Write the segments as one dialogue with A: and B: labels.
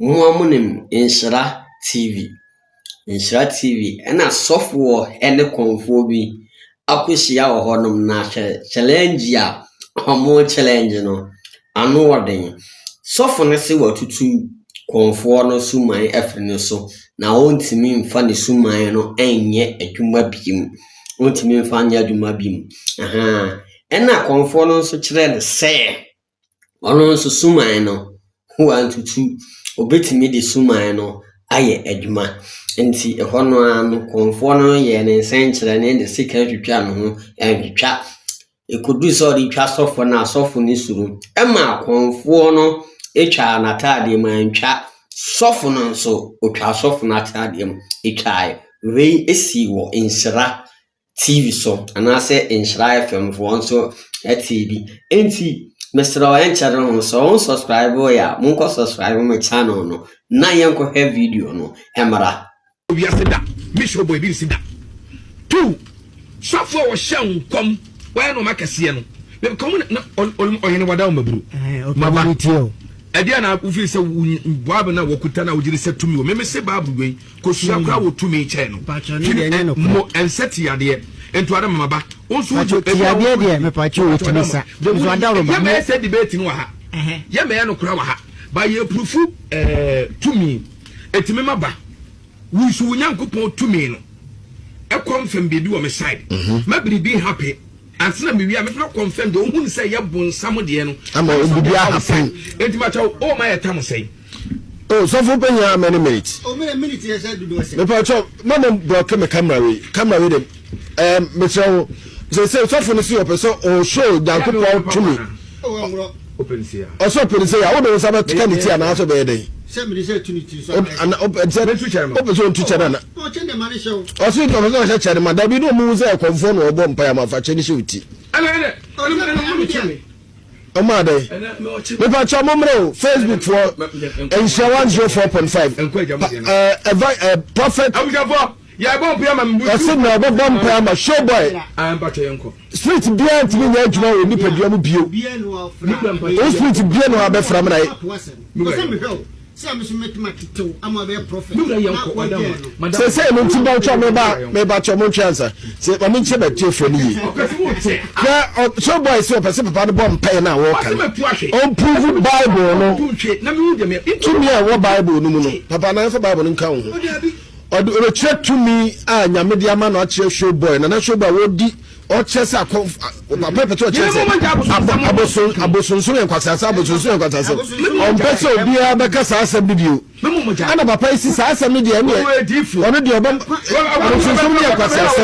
A: Moa mo nim Nhyira TV. Nhyira TV ɛna sɔfoɔ ɛne kɔnfoɔ bi akɔhyia wɔ hɔ nom na hwɛ challenge a ɔmo challenge no ano ɔden. Sɔfo no se watutu kɔnfoɔ no suman afiri ne so na ɔntumi mfa ne suman no ɛnyɛ adwuma biem. Ɔntumi mfa nyɛ adwuma biem. Ahaa ɛna kɔnfoɔ no nso kyerɛ no sɛ. Ɔno nso suman no ho antutu. Obetumi de suman no ayɛ adwuma. Enti ɛhɔ no ara no, kurɔfoɔ no yɛɛ ne nsɛnkyerɛnne de sika twitwaa ne ho ntwitwa. Ɛkɔduu sɛ ɔde twa sɔfo no a, sɔfo no suro. Ɛmaa kurɔfoɔ no twaa n'atadeɛ mu, antwa sɔfo no nso, ɔtwaa sɔfo no atadeɛ mu twaeɛ. Wei sii wɔ nsra TV so anaasɛ Nhyira FM foɔ nso ɛte bi. Enti mesrɛ wo ɛnkyɛre ho sɛ wɔn subscribe yɛ a monkɔ subscribe mo channel no na yɛnkɔhwɛ video no ɛmmra. Wiase da
B: mission bɔ ebi nsi da. Two sɔfo a wɔhyɛ nkɔm wɔyɛ nneɛma kɛseɛ no mekɔm na ɔhene wada wo maburu maba
C: ɛdeɛ na wofii
B: sɛ boab na wɔkuta na wogyere sɛ tumi wɔ memese bible wei Kosua koraa wɔ tumi kyɛn no. Mpakyɛw ne deɛ nyɛ no korɛ. Mo ɛnsɛ ti yadeɛ. Nto ada mama ba. Wo nso wo gye. Mpakyɛw ti yadeɛ deɛ
C: mepakyɛw o tumi sa. Nso adaworo ba. Yɛ mɛyɛ sɛ debate no wɔ
B: ha. Yɛ mɛyɛ no koraa wɔ ha. Ba yɛ prufu ɛɛ tumi. Ɛtumi ma ba. Wo nso wo Nyankopɔn tumi no ɛkɔ mfɛm biribi wɔ me side. Mɛ biribi happy. Ansa na mewie a mɛpɛ na confirm deɛ ɔhunu sɛ yɛ bonsam deɛ no. Ama wɔn bibi ahapen.
D: Enti ma kyɛw o
B: ma yɛ tam sɛn. O sɔfo
D: panyin a many minutes. O mene minute yɛ sɛ
C: dodo ɛsɛ. Mepa kyɛw ma mo
D: block me camera wei camera wei dem ɛɛ mekyerɛ wo sɛ sɛ sɔfo no si ɔpɛ sɛ ɔhwɛ o nyankopɔn tumi.
B: Ɔsɛ ɔpɛ ne sɛ yɛ a, wode
D: wo nsa bɛka ne ti anaa sɛ ɔbɛyɛ dɛn? Wopɛ sɛ ɔntu kyɛ no ana?
C: Ɔse ɔpɛ sɛ ɔhyɛ kyɛ
D: no ma, dabi na ɔmuhu sɛ ɛkɔmfoɔ na ɔbɔ mpaeɛ ama fa kyɛ no hyɛ wo ti. Ɔmaa dɛn? Mepakyɛ mo mmerɛ o, Facebook foɔ, nhyira 104.5, pa, uh, uh, Prophet.
B: Yɛbɔ mpae ama me bu Ɔse showboy. na ɔbɛbɔ mpae
D: ama showboy. Ah mpakyɛ yɛn kɔ.
B: Street biaa ntumi
D: nyɛ adwuma wɔ nipadua mu bio. Wo street bia na wabɛfra me na yɛ. Seesei no nti bantwa a meba a mebatɔ montwe ansa se ma menkyerɛ m'atiefoɔ no yie na showboy se ɔpɛ se papa no bɔ mpae no a wɔka no ɔmprove bible no
B: tumi a ɛwɔ bible
D: no mu no papa na yɛmfa bible no nka wo ho Ɔde ɔbɛkyerɛ tumi a Nyame de ama no akyerɛ Showboy. Nana Showboy a ɔdi ɔkyerɛ sɛ akɔ papa pɛ sɛ ɔkyerɛ sɛ aboson abosonsom yɛ nkwaseasɛ abosonsom yɛ nkwaseasɛ ɔmpɛ sɛ obiara bɛka saa asɛm no bio ɛna papa yi si saa asɛm no deɛ ɛneɛ ɔno deɛ ɔbɛ abosonsom no yɛ nkwaseasɛ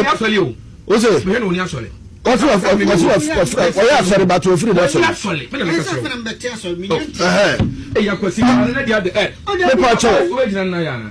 B: ose ɔse
D: ɔyɛ asɔre bato ofiri na asɔre
B: mepa kyɛw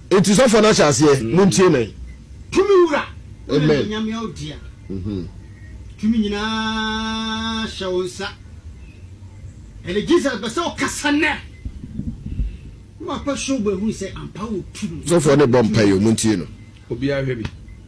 D: Enti sɔfoɔ no ahyɛ aseɛ, montie me. Tumi Wura
C: wo na animuonyam yɛ
D: wo dea,
C: tumi nyinaa hyɛ wo nsa. Ɛnɛ Jesus bɛsɛ wo kasa nnɛ, na wakɔhwɛ wo bɛhunu sɛ ampa wo tumi. Sɔfoɔ no rebɔ mpaeɛ o,
D: montie no. Obiara hwɛ bi.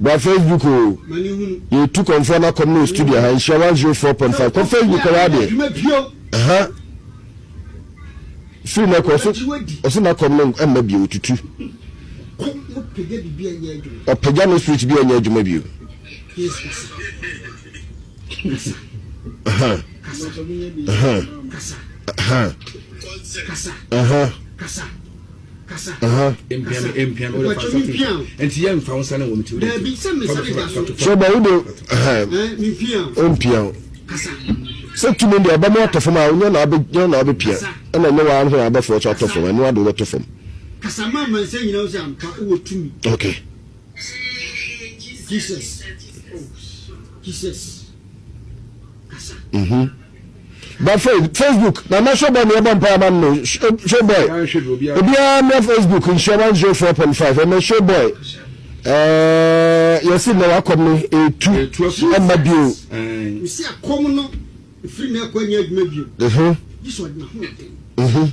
D: Bra Facebook o yɛ tu kɔnfɔ na kɔm no studio ha nhyira one zero four point five kɔ Facebook kɔ wá deɛ ha firi na kɔ ɔso ɔso na kɔm no ɛmma bio tutu ɔpagya no switch bi ɛnyɛ adwuma bio. sɛ tumi deɛ ɛbɛma atɔ fam a wonya na abɛnya na abɛpia ɛna ɛnyɛ waa no na abɛfoɔ so atɔ fam ɛno ade wobɛtɔ fam
C: okay Mhm. ba fɛ facebook na ma showboy na yɛbɔ mpae ama no showboy obiara mmra facebook nhyia one zero four point five ɛmɛ showboy ɛɛ yɛsi na wakɔm no etu ɛma bio. ɛsi akɔm no efiri na ɛkɔ ɛnyɛ adwuma bio. ɛhɛn.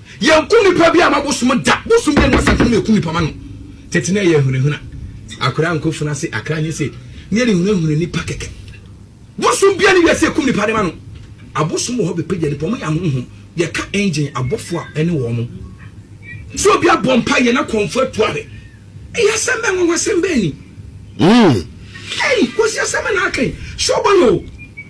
B: Yɛnku nipa bi ama bosom da, bosom deɛ na satan na ɛku nipa ma no, tete na ɛyɛ ahunahuna, akora nkɔ funu ase akra nyɛ se neɛ ne hunahuna nipa kɛkɛ, bosom bia ne wiase ɛkum nipa de ma no, abosom wɔ hɔ bɛpagya nipa, wɔn yɛ ahonhom, yɛka engine abɔfoɔ a ɛne wɔn mo, sɛ obi abɔ mpa yɛ na kɔnfo atu a hwɛ, ɛyɛ asɛm bɛn nwanwasɛm bɛn ni, mm. Ei, Kosi asɛm bɛn na aka yi, sɛ ɔbɔ no o.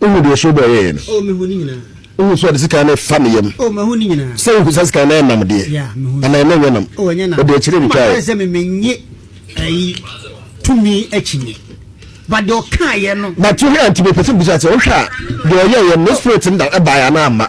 B: Wohu deɛ
D: Shoba yɛeɛ no? Oh, mehu ne nyinaa.
C: Wohu sɛ ɔde sekan
D: no refa ne yam? Oh, mahu ne nyinaa. Sɛ wohu
C: saa sekan no yɛ nam
D: deɛ? Yeah, mehu no. Anaa na ɛnyɛ nam? Oh, ɛnyɛ nam. Ɔde akyire no
C: twaeɛ. Ɛma sɛ
D: me mennye
C: ayi tumi akyinnye. But deɛ ɔkaeɛ no. But wohwɛ a, nti mepɛ sɛ bisa
D: sɛ wohwɛ a, deɛ ɔyɛeɛ no, ne spirit no da ɛbaeɛ anaa amma?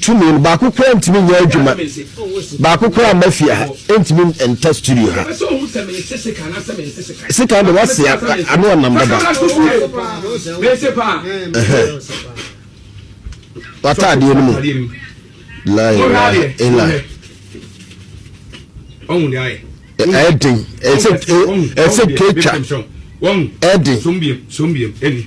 D: Tumi no baako koraa ntumi nyɛ adwuma baako koraa mma fie ha ntumi nta studio ha sika de wase ano ɔnam dada wata adeɛ no mu lai lai elai
B: ɛden
D: ɛsɛ ɛsɛ ketwa ɛden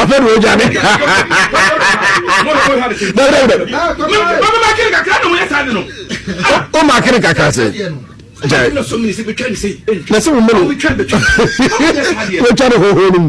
B: ɔpɛ de ɔgya me
D: o ma kere kakra sɛ na sɛ wo mene wɔtwa ne hoho no mu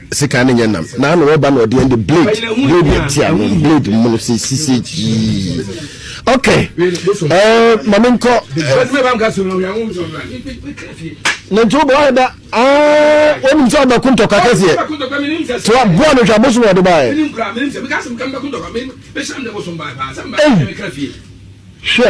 D: Sekan ne nyɛ nam na ano ɔba na ɔde ɛnde blade blade na ti ano blade mu no sɛ sise gyii ok ɛɛ maame nkɔ ne nti wobɔ ayɛ da aa wɔnim sɛ ɔbɛko ntɔkwa kɛseɛ nti waboa no hwɛ abosom ɔde baɛ hwɛ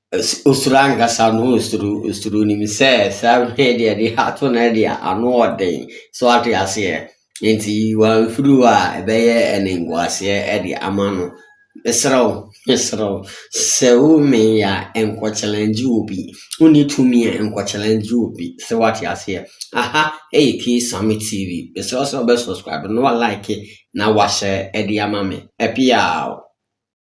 A: Osuro ankasa no osuro osuro nim sɛ saa hwɛ deɛ de ato no deɛ ano ɔden so ate aseɛ nti wɔamfiri hɔ a ɛbɛyɛ ɛne nkoaseɛ de ama no mesrɛ wo mesrɛ wo sɛ womee a nkɔ challenge obi wonni tumi a nkɔ challenge obi sɛ wate aseɛ aha ɛyɛ K Sami TV mesrɛ wo sɛ wobɛ subscribe na wa like na wahyɛ de ama me ɛpia o